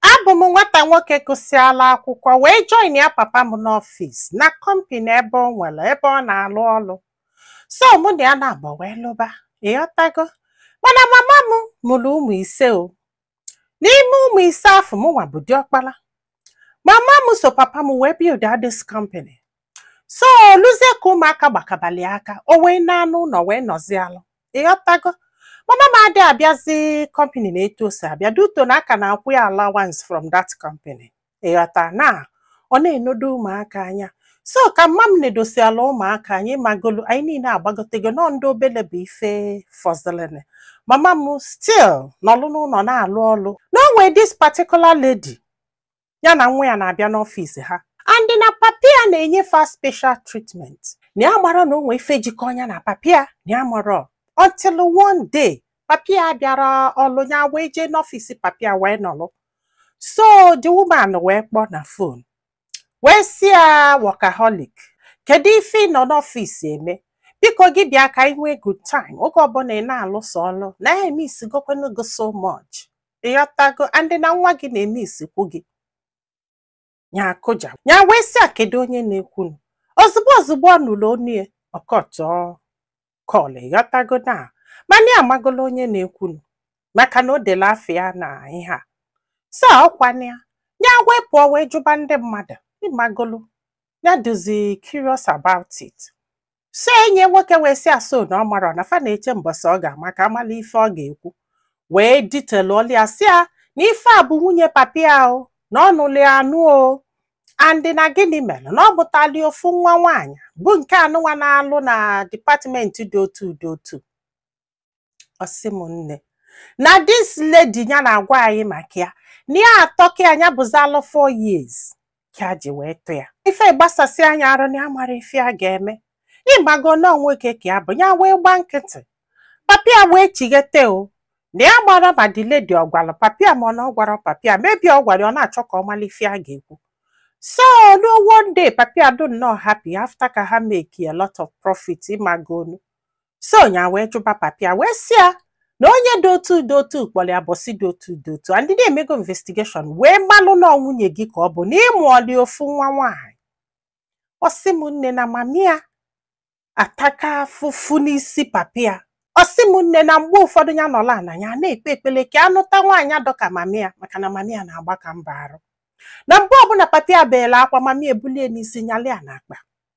Abụ m nwata nwoke gụsịala akwụkwọ wee joinia papa m n'ọfịs na company ebe ọ nwere ebe ọ na-alụ ọlụ. So mụ na ya naabọ wee lụba, ịghọtago? Mana mama m mụrụ ụmụ ise o. N'ime ụmụ ise afụ mụnwa bụ diọkpala. Mama m so papa m wee build this company. so o luzie ka ụmụaka gbakabali aka o wee naa n'ụnọ wee nọzịalụ ịghọtago mama m adị abịazi company na etu o si abịa duto na a ka na-akwụ ya allowance from that company ịghọta na ọ na-enedo ụmụaka anya so ka mama m nedosiala ụmụaka anyị ịmagonu anyị niile agbagotego na ọ ndị obele bụ ife fọzịlịnụ mama m still nọlụ n'ụnọ na-alụ ọlụ na o nwee this particular lady ya na nwa ya na-abịa n'ọfịs ha and na papa ya na-enye fa special treatment na ya amarọ na o nwee ife jikọ ya na papa ya na ya amarọ until one day papa ya abịarọ ọlụ ya wee jee n'ọfịs papa ya wee nọlụ so the woman wee kpọ na phone wee sị ya workaholic kedu ife ị nọ n'ọfịs eme biko gị bịa ka anyị nwee good time oge ọbụla ị na-alụso ọlụ na ya emissigokwanụ gị so much ịghọtago and na nwa gị na-emissikwu gị ya akụja ya wee sị ya kedu onye na-ekwunu ozugbo ozugbo ọ nụrụ onu ya ọ cuttụọ call ịghọtago na mana ya amagolo onye na-ekwunu maka na o delu afa ya na ihe a so ọkwana ya ya wee pụọ wee jụba ndị mmadụ ịmagonu ya dịzi curious about it so onye nwoke wee sị ya so na ọ marọ na fa na-eche mbọsị ọ ga-ama ka a malụ ife ọ ga-ekwu wee detailọlụ ya sị ya na ife a bụ nwunye papa ya o na ọ nụlụ ya anụ o and na gịnị mere na ọ mụtalị ofu nwa nwaanyị bụ nke anụnwa na-alụ na department dị otu dị otu ọ sị m nne na this lady ya na-agwa anyị maka ya na ya atọ ka anya bụzalụ 4 years ka a ji wee tọ ya ife gbasasịa ya arụ na ya amarọ ife ya ga-eme ịmago na nwoke ka ya bụ ya wee gba nkịtị papa ya wee chighete o na ya amarọ ma the lady ọ gwara papa ya ma ọ na ọ gwarọ papa ya maybe ọ gwara ya, ọ na-achọ ka ọ mara ife ya ga-ekwu so na one day papa ya dị nnọọ happy after ka ha make a lot of profit ịmagonu so ya wee jụba papa ya wee sị ya na onye dị otu dị otu kpọrọ ya mbọsị dị otu dị otu and na ya emego investigation wee malụ na nwunye gị ka ọ bụ na ịmụọli ofu nwa nwaanyị ọ sị m nne na mama ya ataka afụfụ n'isi papa ya ọ sị m nne na mgbe ụfọdụ ya nọla na ya na-ekpe ekpele ka ya nụta nwaanyị dị ka mama ya maka na mama ya na-agbaka mbọ arụ na mgbe ọbụla papa ya beela akwa mama ya ebulie n'isi nyalị ya n'akpa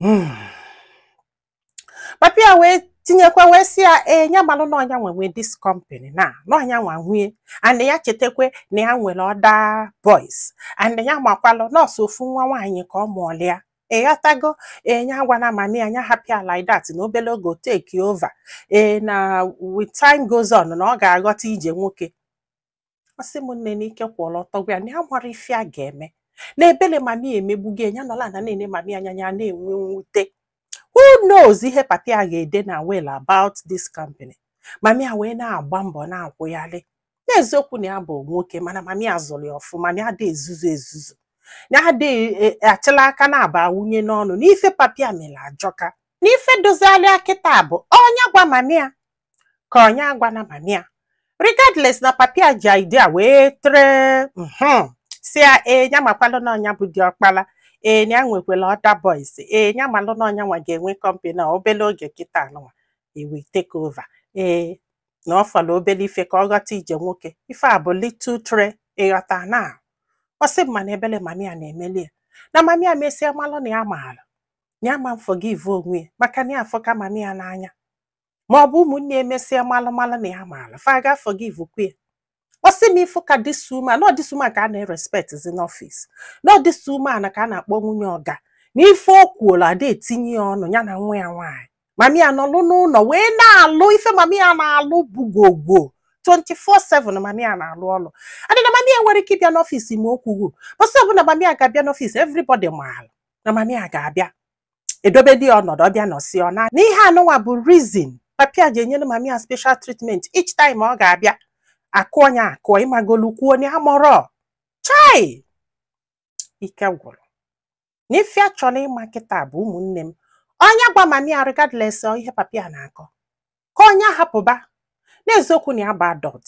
Hmm. papa ya wee tinyekwa wee sị ya ee ya malụ na ọ nya nwa nwe this company na na ọ nya nwa nwe ya and ya chetakwe na ya nwere other boys and ya makwalụ na ọ sọ ofu nwa nwaanyị ka ọ mụụlụ ya ịghọtago nya agwana mami ya nya hapụ ya like that na obere oge o take over ee na with time goes on na ọ ga-aghọta ije nwoke ọ sị m nne n'ike kwụọlụ ọtọ gwụ ya na ya amarọ ife ya ga-eme na ebele mami ya emegbugo ya nya nọla na na-ene mami ya anya ya na-enwe mwute who knows ihe papa ya ga-ede na will about this company mami ya wee na-agba mbọ na-akwụgharị n'eziokwu na ya bụ nwoke mana mami ya zụrụ ya ọfụma na ya dị ezuzu ezuzu na ya dị e, e, achịla aka na-aba wunye n'ọnụ n'ife papa ya mere ajọka n'ife dozialịa kịta bụ ọ nya gwa mami ya ka ọ nya agwana mami ya regardless na papa ya ji idea wee threat mhm, sị ya ee ya makwalụ na ọ nya bụ diọkpala ee ya nwekwala other boys ee ya malụ na ọ nya nwa ga-enwe company na obele oge kịta anụnwa he will take over ee na ọ fọrọ obele ife ka ọ ghọta ije nwoke ife a bụ little threat ịghọta na ọ sị m mana ebele mami ya na-emeli ya na mami ya mesịa malụ na ya maara na ya ama forgive onwe ya maka na ya afụka mami ya n'anya ma ọ bụ ụmụnne ya mesịa malụ malụ na ya maala fa ga forgive kwa ya ọ sị m ị fụkwa this woman na ọ this woman ka a na-erespect zi n'ọfịs na ọ this woman ka a na-akpọ nwunye oga na ife o kwulu ada etinye ya ọnụ ya na nwa ya nwaanyị mami ya nọlụ n'ụlọ wee na-alụ ife mami ya na-alụ bụ gwogwo 24/7 mami ya na-alụ ọlụ adị na mami ya nwere ike ịbịa n'ọfịs ma o kwughu bọsị ọbụla mami ya ga-abịa n'ọfịs everybody maala na mami ya ga-abịa edobedi ya ọnọdụ ọ bịa nọsịa ọ naa n'ihe anụnwa bụ reason papa ya ji enyere mami ya special treatment each time ọ ga-abịa akụ onye akụọ ịmagolu kwuo onye amụrọ chai ike gwụrụ na ife ya chọrọ ịma kịta bụ ụmụnne m ọ nya gwa mami ya regardless of ihe papa ya na-akọ ka ọ nya hapụba n'eziokwu na ya bụ adult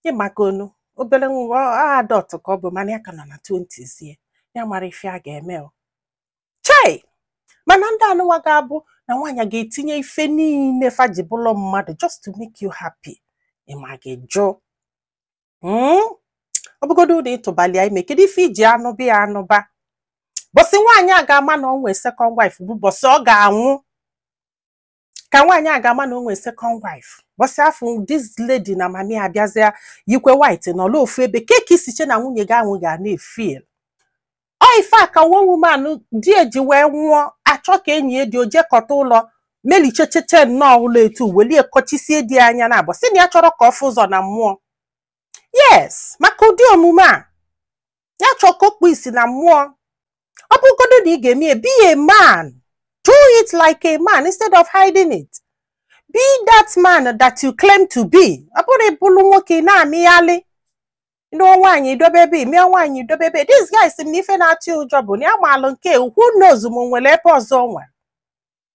ị magonu obere nwa adult ka ọ bụ mana ya ka nọ na 20s ya ya amarọ ife ya ga-eme o chai mana ndị anụwa ga-abụ na nwaanyị ga-etinye ife niile fa ji bụlụ mmadụ just to make you happy ịma gị jụ hmm? ọ bụgodu na ị tụbalụ ya ime kedu ife i ji anụba ya anụba bọsị nwaanyị a ga-ama na o nwe second wife bụ bọsị ọ ga-anwụ ka nwaanyị a ga-ama na o nwere second wife bọsị afụ this lady na mami ya bịazịa yikwe white nọlụ ofu ebe kee ka i si che na nwunye gị anụwa ga na-efeel ọ ife a ka one woman di ya ji wee nwụọ a chọ ka e nie di ya o je kọta ụlọ melichechete nnọọ ụlọ etu welie kọchisie di ya anya naabọ sị na ya achọrọ ka ọ fụ ụzọ na mmụọ yes maka ụdị omume a ya chọọ ka okpu isi na mmụọ ọ bụgodo na ị ga-eme ya be a man do it like a man instead of hiding it be that man that you claim to be ọ bụrụ ị bụlụ nwoke ị na-amịghalị nụọ nwaanyị i dobe ebe nụọ nwaanyị i dobe ebe this guy sị m na ife na-atụ ụjọ bụ na ya maalụ nke who knows ma o nwere ebe ọzọ o nwere